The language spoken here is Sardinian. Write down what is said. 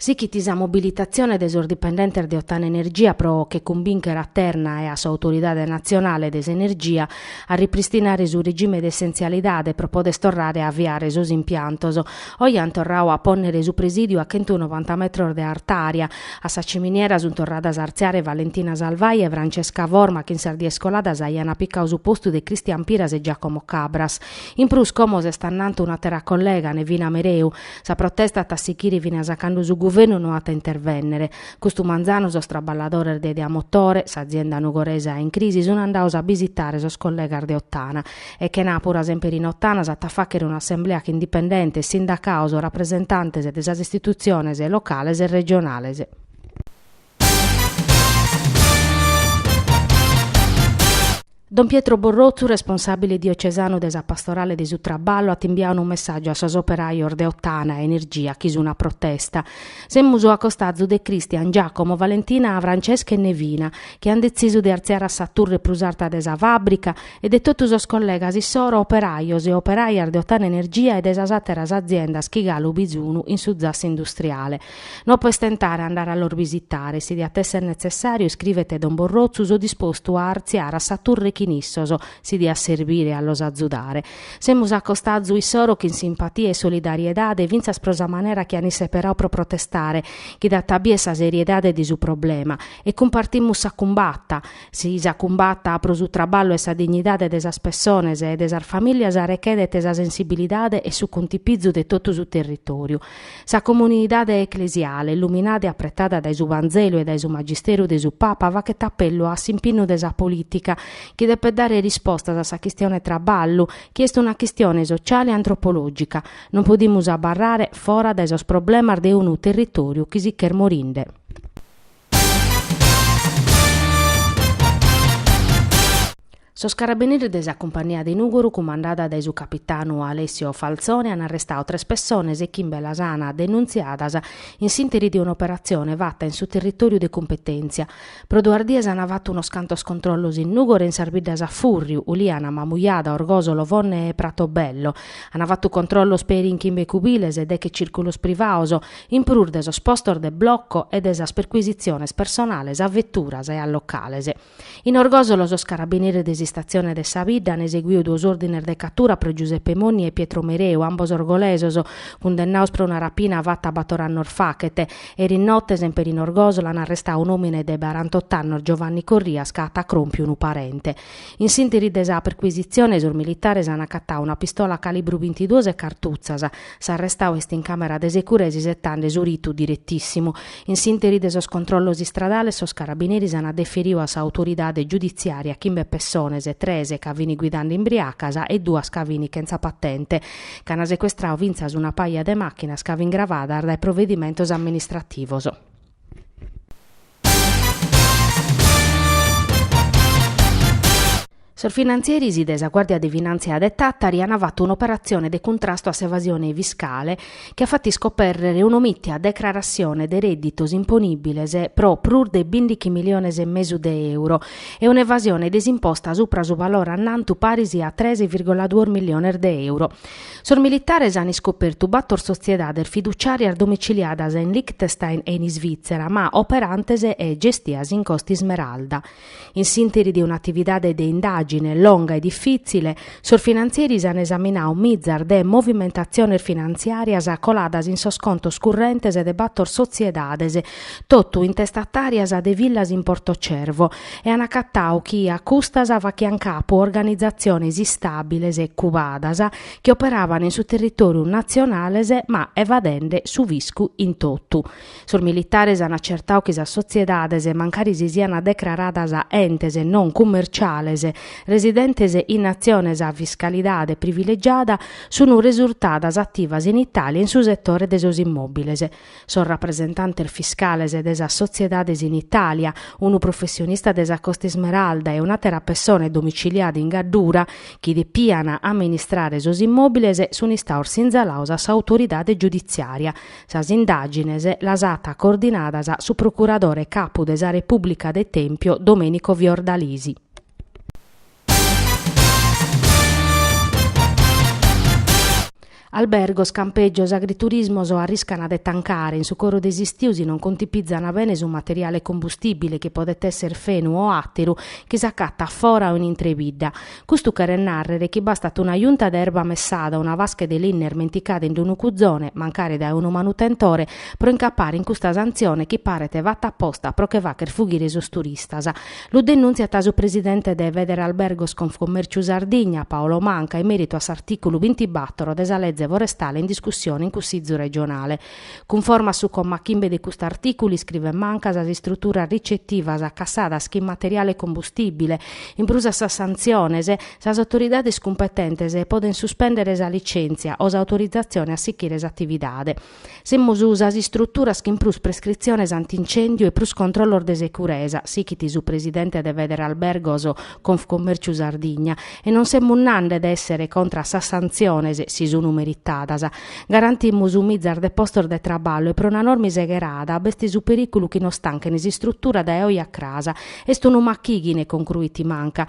Sichit sa mobilitatzione de sos dipendentes de Ottana Energia pro che cumbìnchere a Terna e a s'Autoridade Natzionale de s'Energia a ripristinare su regime de essenzialidade pro poder torrare a aviare sos impiantos. Oe an torradu a pònnere su presìdiu a chentu novanta metros de artària. A sa ciminiera sunt torradas a artziare Valentina Salvai e Francesca Forma chi in sas dies coladas aian apicadu su postu de Cristian Piras e Giacomo Cabras. In prus como s'est annantu un'àtera collega, Nevina Mereu, Sa protesta at a sighire finas a cando su guvernu no at a intervènnere. Custu manzanu sos traballadores de Ideamotore, s'azienda nugoresa in crisi, sunt andados a bisitare sos collegas de Ottana. E chenàpura semper in Ottana s'at a fàghere un'assemblea chin dipendentes, sindacados, rapresentantes de sas istitutziones locales e regionales. Don Pietro Borrotzu, responsàbile diocesanu de sa Pastorale de su Traballu, at imbiadu unu messàgiu a sos operajos de Ottana Energia chi sun a protesta. Semus a costazu de Cristian, Giacomo, Valentina, Francesca e Nevina, chi ant detzisu de artziare a sa turre prus arta de sa fàbrica, e de totu sos collegas issoro operajos e operajas de Ottana Energia e de sas àteras aziendas chi galu bisunu in su zassu industriale. No apo a istentare a andare a los bisitare, si diat esser netzessàriu, iscrivet don Borrotzu, so dispostu a artziare a sa turre chin issos, si diat serbire a los azudare. Semus acostazu issoro chin simpatia e solidariedade, fintzas pro sa manera chi an isseperadu pro protestare, chi dat a bier sa seriedade de su problema, e cumpartimus sa cumbata. Sa cumbata pro su traballu e sa dignidade de sas pessones e de sas famìlias rechedet sa sensibilidade e su cuntipizu de totu su territoriu. Sa comunidade eclesiale, illuminada e apretada dae su Vanzelu e dae su magisteru de su Papa, faghet apellu a s'impinnu de sa polìtica, chi depet dare rispostas a sa chistione traballu, chi est una chistione sociale e antropològica. Non podimus abarrare fora dae sos problemas de unu territòriu chi sich'est morinde. Sos carabineris de sa cumpania de Nùgoro cumandada dae su capitanu Alessio Falzone an arrestadu tres pessones e chimbe las an denùntziadas in s'interi de un'operatzione fata in su territòriu de cumpetèntzia. Pro duas dies an fatu unos cantos controllos in Nùgoro e in sas biddas a fùrriu, Uliana, Mamujada, Orgòsolo, Fonne e Pratobello. An fatu controllos peri in chimbe cubiles e deghe cìrculos privados, In prus de sos postos de bloco e de sas percuisitziones personales a veturas e a locales. In Orgosolo sos carabineris de s'istatzione de sa bidda an eseguiu duos òrdines de catura pro Giuseppe Monni e Pietro Mereu, ambos orgolesos, cundennados pro una rapina fata bator annos faghet. Eris note, semper in Orgosolo, an arrestadu un'òmine de barantot'annos, Giovanni Corrias, ca at acròmpiu unu parente. In s'ìnteri de sa percuisitzione sos militares an acatadu una pistola a calibru bintiduos e cartutzas. S'arrestau est in càmera de securesa isetande su ritu diretìssimu. In s'ìnteri de sos controllos istradales sos carabineris ant deferiu a sa autoridade giuditziària chimbe pessones, tres ca fini guidande imbriacas e duas ca fini chentza patente. Ch'ant secuestrau fintzas una paja de màchinas ca fin gravadas dae provedimentos amministrativos. Sos finantzieris de sa Guàrdia de Finàntzia de Tàtari ant fatu un'operatzione de cuntrastu a s'evasione fiscale chi at fatu iscopèrrere un'omìtia declaratzione de rèdditos imponìbiles pro prus de bìndichi miliones e mesu de euro e un'evasione de s'imposta supra su valore annantu paris a trèichi vìrgola duos miliones de euro. Sos militares an iscopertu bator sotziedades fiduciàrias domiciliadas in Liechtenstein e in Isvìtzera, ma operantes e gestias in Costa Ismeralda. In s'ìnteri de un'atividade de indàgine longa e difìtzile, sos finantzieris an esaminau mizas de movimentatziones finantziàrias coladas in sos contos currentes de bator sotziedades, totu intestatàrias de villas in Porto Cervo, e an acatau chi a custas fachian capu organizatziones istàbiles e cubadas chi operaban in su territòriu natzionales ma evadende su fiscu in totu. Sos militares an acertau chi sas sotziedades, mancari si siant decraradas entes non cummerciales residentes in natziones a fiscalidade privilegiada, sunt resurtadas ativas in Itàlia in su setore de sos immòbiles. sos rapresentantes fiscales de sas sotziedades in Itàlia, unu professionista de sa Costa Ismeralda e un'àtera pessone domiciliada in Gaddura, chi depian amministrare sos immòbiles, sunt istaos sinzalaos a s'autoridade giuditziària. Sas indàgines las at coordinadas su procuradore capu de sa Repùblica de Tèmpio, Domenico Fiordalisi. Albergos, campeggios, agriturismos arriscana de tancare in su coro de s'istiu si non contipizzana bene su materiale combustibile chi podet esser fenu o atteru chi s'accattat fora o in intro 'e bidda. Custu cheret narrere chi bastat una junta de erba messada o una fasche de linna irmenticada in d'unu cuzone, mancare dae unu manutentore, pro incappare in custa santzione chi paret fatta apposta pro che facher fughire sos turistas. Lu denùntziat su presidente de Federalbergos Confcommerciu Sardigna, Paolo Manca, in mèritu a s'artìculu bintibator de sa leze forestale in discussione in Cussizu regionale. Cunforma a su comma chimbe de custu artìculu, iscrivet Manca, sas istruturas ricetivas cassadas chin materiale combustìbile, in prus a sas santziones, sas autoridades cumpetentes podent suspèndere sa licèntzia o s'autorizatzione a sichire s'atividade. Semus sas istruturas chin prus prescritziones anti-incèndiu e prus controllos de securesa, sichit su presidente de Federalbergos Confcommerciu Sardigna, e non semus nande de èssere contra a sas santziones, si sun meritadas. Garantimus mizas de postos de traballu e pro una norma segherada b'est su perìculu chi nos tanchen s'istrutura dae oe a cras. Est unu machighine, concruit Manca,